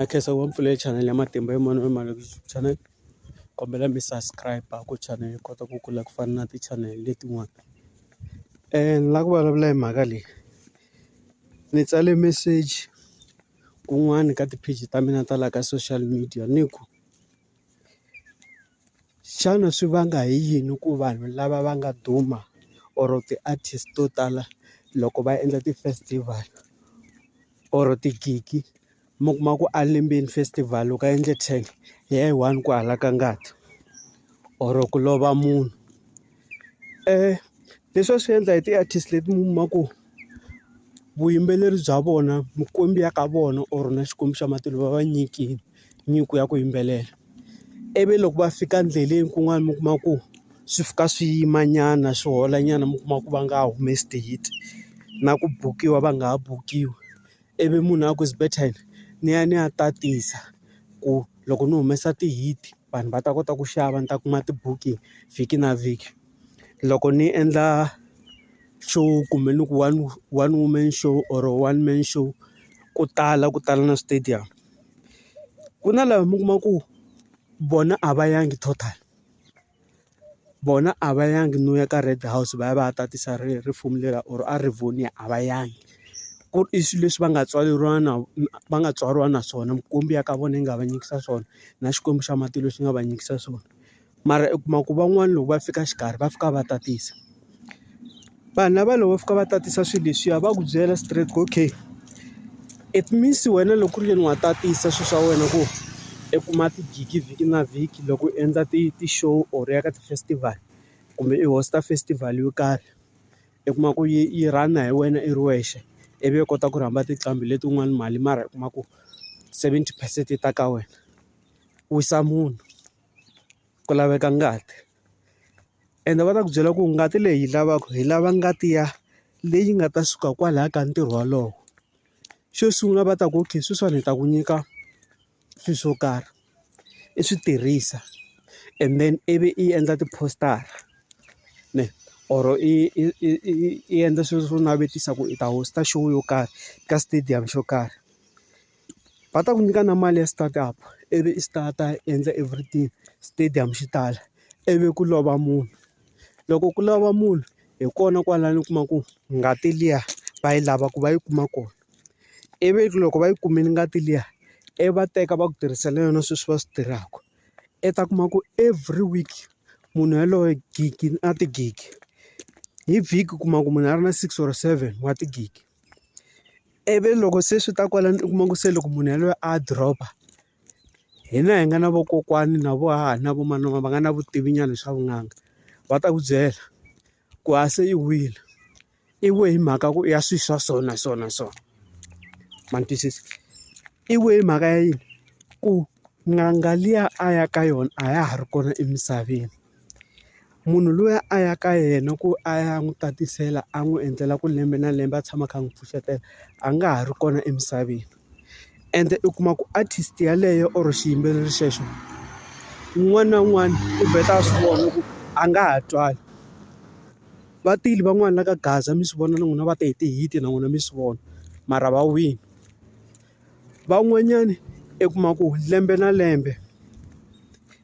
Na khensa ngopfu pfule channel ya matimba hi mani u mani channel kombela mi subscribe a ku channel yi kota ku kula ku fana na ti channel letin'wana ni lava ku vulavula hi mhaka leyi ni tsale message kun'wani ka ti-page ta mina ta laha ka social media ni ku. Xana swi vanga hi yini ku vanhu lava va nga duma or ti-artist to tala loko va endla ti-festival or tigigi mi kuma ku a lembeni festival loko a endle ten hi ya yi one ku halaka ngati or ku lova munhu. Leswi va swi endla hi ti-artist leti mi kuma ku vuyimbeleri bya vona mikwembu ya ka vona or na Xikwembu xa matilo va va nyikile nyiko ya ku yimbelela. Ivi loko va fika endleleni kun'wana mi kuma ku swi fika swi yimanyana swi holanyana mi kuma ku va nga ha humesi ti-hit na ku bukiwa va nga ha bukiwi. ivi munhu a ku it's better ni ya ni ya tatisa ku loko ni humesa ti-heat vanhu va ta kota ku xava ni ta kuma ti-booking vhiki na vhiki. Loko ni endla show kumbe ni ku one one woman show or one man show ku tala ku tala na switedamu ku na lava mi kuma ku vona a va yangi total. vona a va yangi no ya ka Red house va ya va ya tatisa risimu leri or a rivonia a va yangi. Ku ri i swilo leswi va nga tswaleriwa na va nga tswariwa na swona, mikwembu ya ka vona yi nga va nyikisa swona, na xikwembu xa matilo xi nga va nyikisa swona. Mara u kuma ku van'wana loko va fika xikarhi va fika va tatisa. vanhu lava loko va fika va tatisa swilo leswiya va ku byela straight ku okay it means wena loko ku ri yini wa tatisa swilo swa wena ku i kuma tigigi vhiki na vhiki loko u endla ti ti-show or ya ka ti-festival kumbe i host-a festival yo karhi i kuma ku yi yi run-a hi wena i ri wexe ivi u kota ku rhamba tinqambi letin'wani mali mara u kuma ku seventy percent yi ta ka wena wisa munhu ku laveka ngati. ende va ta ku byela ku ngati leyi hi lavaka hi lava ngati ya leyi nga ta suka kwalaya ka ntirho wolowo xo sungula va ta ku okay sweswiwani hi ta ku nyika swilo swo karhi i swi tirhisa and then ivi i endla ti-poster-a ne or i endla swilo swo navetisa ku i ta host-a show yo karhi ka stadium xo karhi. va ta ku nyika na mali ya start up ivi i start-a i endla everything stadium xi tala ivi ku lova munhu loko ku lova munhu hi kona kwalano u kuma ku ngati liya va yi lava ku va yi kuma kona ivi loko va yi kumile ngati liya i va teka va ku tirhisela yona sweswi va swi tirhaka i ta kuma ku every week munhu yaloye gigi na tigigi hi vhiki u kuma ku munhu a ri na six or seven wa tigigi. ivi loko se swi ta kwalano u kuma ku se loko munhu yaloye a drop-a hina hi nga na vakokwani na vo hahani na vo manana va nga na vutivi nyana swa vunanga va ta ku byela ku a se i wile i we hi mhaka ku ya swilo swa so na so na so ma ni twisisa i we hi mhaka ya yini ku n'anga liya a ya ka yona a ya ha ri kona emisaveni. Munhu luya a ya ka yena ku a ya n'wi tatisela a n'wi endlela ku lembe na lembe a tshama a kha a n'wi pfuxetela, a nga ha ri kona emisaveni. Ende u kuma ku artist yeleyo or xiyimbeleri xexo, un'wana na un'wana u vheta a swi vona ku a nga ha twali. Va tile van'wana va ka gaza mi swi vona na n'wina va te hi ti-hit-i na n'wina mi swi vona, mara va wile. Van'wanyani i kuma ku lembe na lembe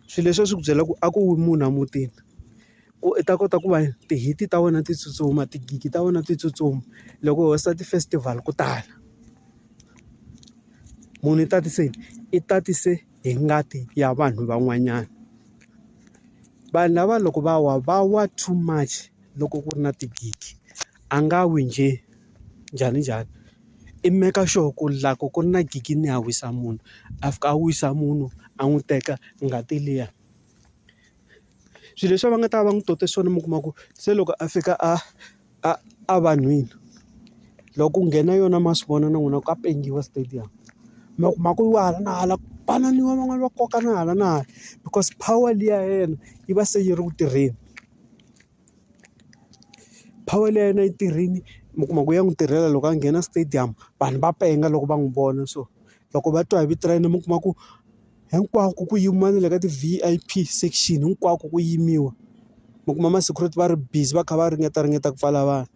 swilo leswi a swi ku byela ku a ku wi munhu emutini ku i ta kota ku va ti-hit ta wena ti tsutsuma tigigi ta wena ti tsutsuma loko ho sa ti-festival ku tala munhu i tatise i tatise hi ngati ya vanhu van'wanyana vanhu lava loko va wa va wa too much loko ku ri na tigigi. a nga wi njhe njhani njhani i make sure ku la ku ku ri na gigi ni ya wisa munhu a fika a wisa munhu a n'wi teka ngati liya swilo leswi va nga ta va n'wi tote swona mi kuma ku se loko a fika a a a vanhwini loko ku nghena yona ma swi vona na n'wina ka pendiwa stadium mi ya kuma ku wa hala na hala ku banana van'wana va kokana hala na hala because power liya ya yena yi va se yi ri ku tirheni. power leyi a yi na yi tirhile mi kuma ku ya n'wi tirhela loko a nghena stadium vanhu va penga loko va n'wi vona so loko va twa hi vito ra yena mi kuma ku hinkwako ku yimiwa na le ka ti-V_I_P section hinkwako ku yimiwa mi kuma ma security va ri busy va kha va ringetaringeta ku pfala vanhu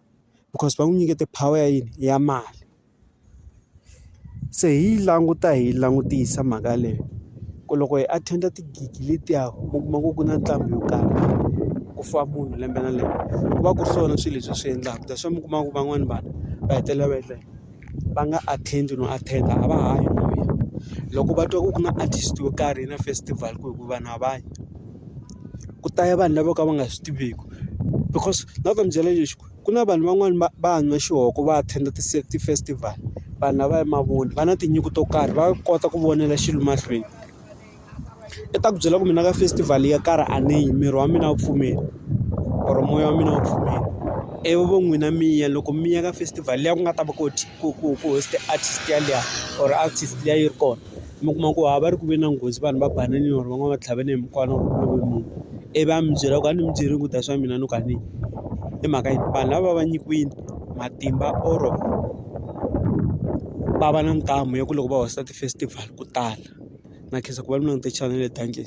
because va n'wi nyikete power ya yini ya mali. Se hi yi languta hi yi langutisa mhaka leyi ku loko hi attend-a ti-gig letiya u kuma ku ku na nqambi yo karhi ku fa munhu lembe na lembe ku va ku ri swona swilo leswi swi endlaka that's why mi kuma ku van'wani vanhu va hetelela va endla va nga attend no attend a va ha yi moya loko va twa ku ku na artist yo karhi na festival ku hi ku vanhu a va yi ku ta ya vanhu lavo ka va nga swi tiviki because na ku va ni byela lexi ku. ku na vanhu van'wani va va nwa xihoko va attend ti-festival vanhu lava i mavoni va na tinyiko to karhi va kota ku vonela xilo mahlweni i ta ku byela ku mina ka festival yo karhi a ni yi miri wa mina a wu pfumeli or moya wa mina a wu pfumeli ivi vo n'wina mi ya loko mi ya ka festival liya ku nga ta va ku ku ku ku host artist yaliya or artist liya yi ri kona mi kuma ku a va ri ku ve na nghozi vanhu va banana or van'wani va tlhavane hi mukwana or ku love munhu i va mi byela ku a ni mi byeli ku ta swa mina no ka ni i mhaka yi vanhu lava va nyikiwini matimba or va va na ntamu ya ku loko va hoxa ti-festival ku tala na khensa ku va mi langute chanele dankie.